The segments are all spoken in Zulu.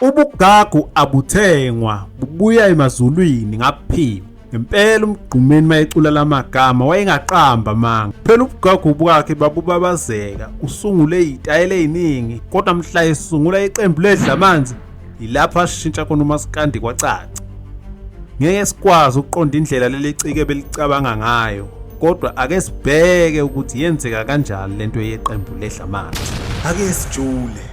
Ubugagu abuthengwa bubuya emazulwini ngaphiwa. Ngempela umgqumeni mayecula lamagama wayengaqamba manga. Phela ubugagu bwakhe babubabazeka, usungule izitayela eziningi kodwa mhla esungula iqembu ledla amanzi yilapho ashintsha khona umaskandi kwacaca. Ngeke sikwazi ukuqonda indlela leli cike belicabanga ngayo kodwa ake sibheke ukuthi yenzeka kanjani lento yeqembu ledla amanzi. Ake sijule.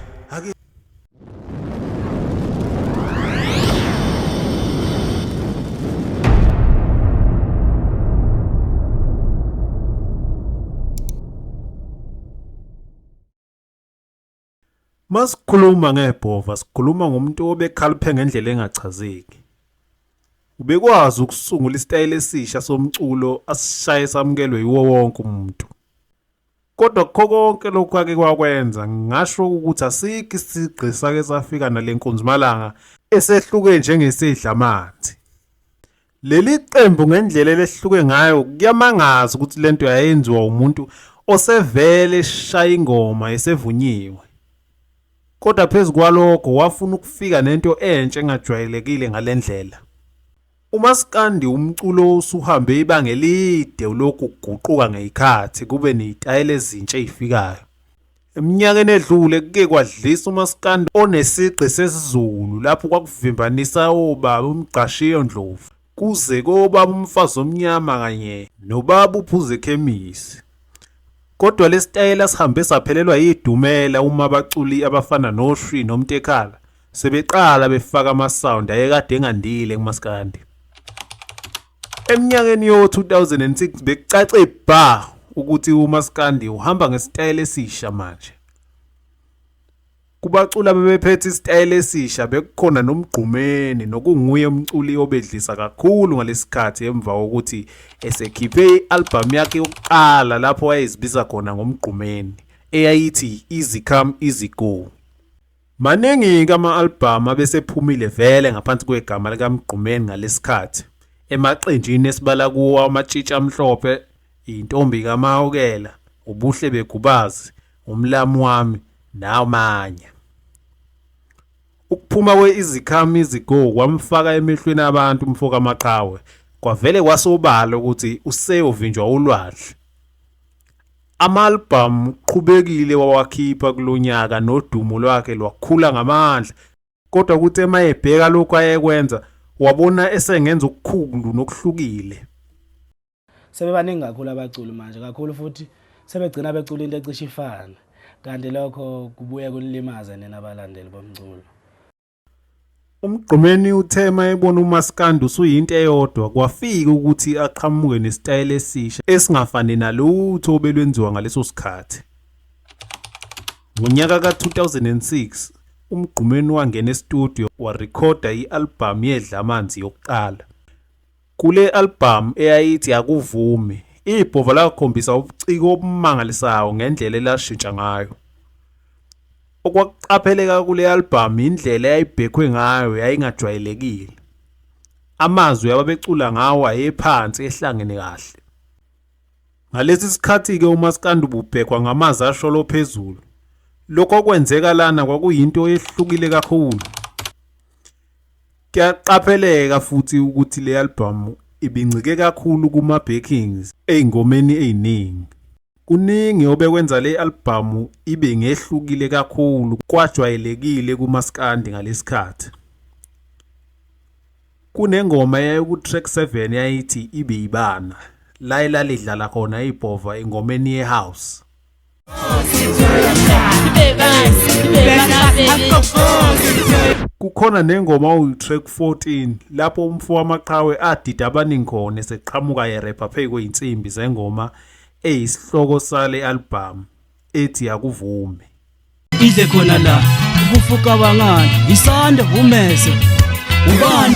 Masikhuluma ngebhova sikhuluma ngomuntu obekhaliphe ngendlela engachazeki. Ubekwazi ukusungula isitayela esisha somculo asishaye samukelwe yiwo wonke umuntu. Kodwa kukho konke lokhu ake kwakwenza ngingasho ukuthi asikho isigqi sake safika nale nkunzimalanga esehluke njengesidla amanzi. Leli qembu ngendlela elehluke ngayo kuyamangaza ukuthi lento yayenziwa umuntu osevele eshaya ingoma esevunyiwe. Kodwa phezu kwalokho wafuna ukufika nento entsha engajwayelekile ngalendlela. Umaskandi wumculo osuhambe ibanga elide ulokhu kuguquka ngeyikhathi kube nezitayela ezintsha ezifikayo. Eminyakeni edlule kuke kwadlisa umaskandi onesigqi sesiZulu lapho kwakuvimbanisa obaba uMgqashiyo Ndlovu kuze kobaba umfazi omnyama kanye nobaba uphuze khemisi. Kodwa lesitayela sihambe saphelelwa yidumela uma abaculi abafana noShwi noMtekhala Sebeqala befaka ama-sound ayekade engandile kumaskandi. Eminyakeni yo-2006 bekucace bha ukuthi umaskandi uhamba ngesitayela esisha manje. Kubaculi abebephethe isitayela esisha bekukhona noMgqumeni nokunguye umculi obedlisa kakhulu ngalesikhathi emva kokuthi esekhiphe i-albhamu yakhe yokuqala lapho wayezibiza khona ngoMgqumeni eyayithi Easy Come Easy Go. Maningi-ke ama-albhamu abesephumile vele ngaphansi kwegama likaMgqumeni ngalesikhathi. Emaqenjini esibala kuwo Amatshitshi Amhlophe, Intombi kaMahawukela, Ubuhle Begubazi, Umlamu Wami namanye. Ukuphuma kwe-Izikhamizi Go kwamfaka emehlweni abantu umfokaMaqhawe, kwavele kwasobala ukuthi useyovinjwa ulwandle. Ama-albhamu uqhubekile wawakhipha kulo nyaka nodumo lwakhe lwakhula ngamandla kodwa kuthi uma ebheka lokhu ayekwenza wabona esengenza okukhulu nokuhlukile. Sebebaningi kakhulu abaculi manje kakhulu futhi sebegcina becula into ecishe ifane kanti lokho kubuye kunilimaze nina balandeli bomculo. UMgqumeni uthe uma ebona umaskandi usuyinto eyodwa kwafika ukuthi aqhamuke nesitayela esisha esingafani nalutho obelwenziwa ngaleso sikhathi. Ngonyaka ka-2006 uMgqumeni wangena estudiyo warekhoda i-albhamu yeDlamanzi yokuqala. Kule albhamu eyayithi Akuvumi, ibhova lakhombisa ubuciko obumangalisayo ngendlela elashintsha ngayo. Okwakuqapheleka kule albhamu indlela eyayibhekhwe ngayo yayingajwayelekile. Amazwi ababecula ngawo ayephansi ehlangene kahle. Ngalesi sikhathi-ke umaskandi ububhekwa ngamazi asholo phezulu. Lokho okwenzeka lana kwakuyinto ehlukile kakhulu. Kuyaqapheleka futhi ukuthi le albhamu ibincike kakhulu kuma-backings ezingomeni eziningi. Kuningi obekwenza le albhamu ibe ngehlukile kakhulu kwajwayelekile kumaskandi ngalesi khathi. Kunengoma eyayiku-track 7 eyayithi Ibe Ibanga, la elalidlala khona ibhova engomeni ye-house. kukhona nengoma oyi-track 14 lapho umfo wamaqhawe adida abaningi khona eseqhamuka yerepha phezu kwey'nsimbi zengoma eyisihloko sale albhamu ethi akuvume idle khona la kufuka bangani isanda umeze ubani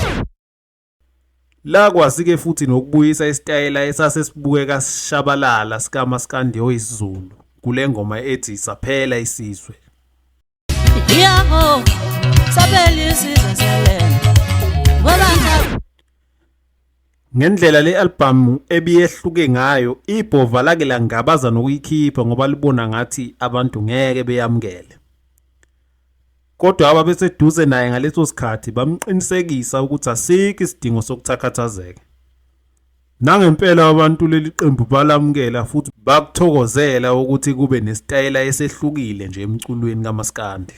Lakwazi-ke futhi nokubuyisa isitayela esase sibukeka sishabalala sikamaskandeo isiZulu kule ngoma ethi Saphela Isizwe. Yebo, saphela isizwe selena. Ngoba Ngendlela le albhamu ebiyehluke ngayo, ibhova lake langabaza nokuyikhipha ngoba libona ngathi abantu ngeke beyamukele. Kodwa ababeseduze naye ngaleso sikhathi bamqinisekisa ukuthi asikho isidingo sokuthakhathazeka. Nangempela abantu leli qembu balamukela futhi bakuthokozela ukuthi kube nesitayela esehlukile nje emculweni kamaskandi.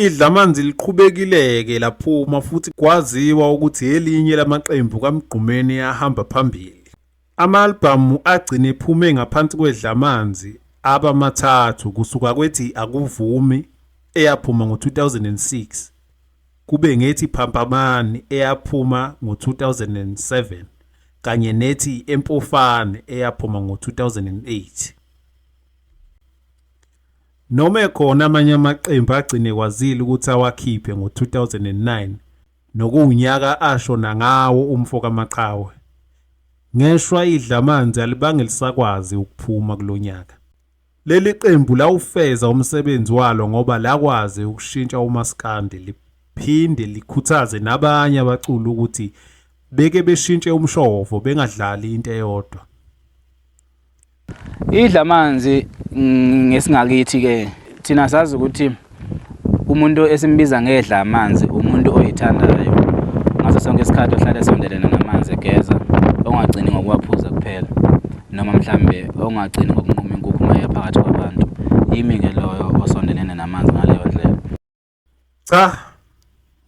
Idlamanzi liqhubekile-ke laphuma futhi kwaziwa ukuthi elinye lamaqembu kaMgqumeni ahamba phambili. Ama-albhamu agcine ephume ngaphansi kweDlamanzi aba mathathu kusuka kwethi Akuvumi eyaphuma ngo-2006 kube ngethi Phampamani eyaphuma ngo-2007 kanye nethi Empofane eyaphuma ngo-2008. Noma ekhona amanye amaqembu agcine kwazile ukuthi awakhiphe ngo-2009 Nokuwunyaka ashona ngawo umfo kaMaqhawe. Ngeshwa idlamanzi alibange lisakwazi ukuphuma kulo nyaka. Leli qembu lawufeza umsebenzi walo ngoba lakwazi ukushintsha umaskandi liphinde likhuthaze nabanye abaculi ukuthi beke beshintshe umshovo bengadlali into eyodwa. Idla amanzi ngesingakithi ke thina sazi ukuthi umuntu esimbiza ngedla amanzi umuntu oyithandayo ngaso sonke isikhathi ohlale sondelene namanzi egeza ongagcini ngokuwaphuza kuphela noma mhlambe ongagcini ngokunquma inkukhu maye phakathi kwabantu yimi ke loyo osondelene namanzi ngaleyo ndlela Cha,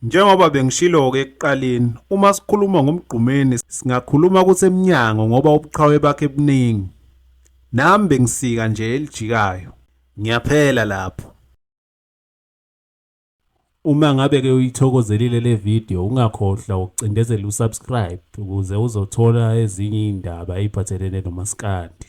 njengoba bengishilo-ke ekuqaleni, uma sikhuluma ngomgqumeni singakhuluma ukuthi emnyango ngoba ubuqhawe bakhe buningi. Nami bengisika nje elijikayo. Ngiyaphela lapho. Uma ngabe ke uyithokozelile le video ungakhohlwa ukucindezela usubscribe ukuze uzothola ezinye iy'ndaba ey'phathelene nomaskandi.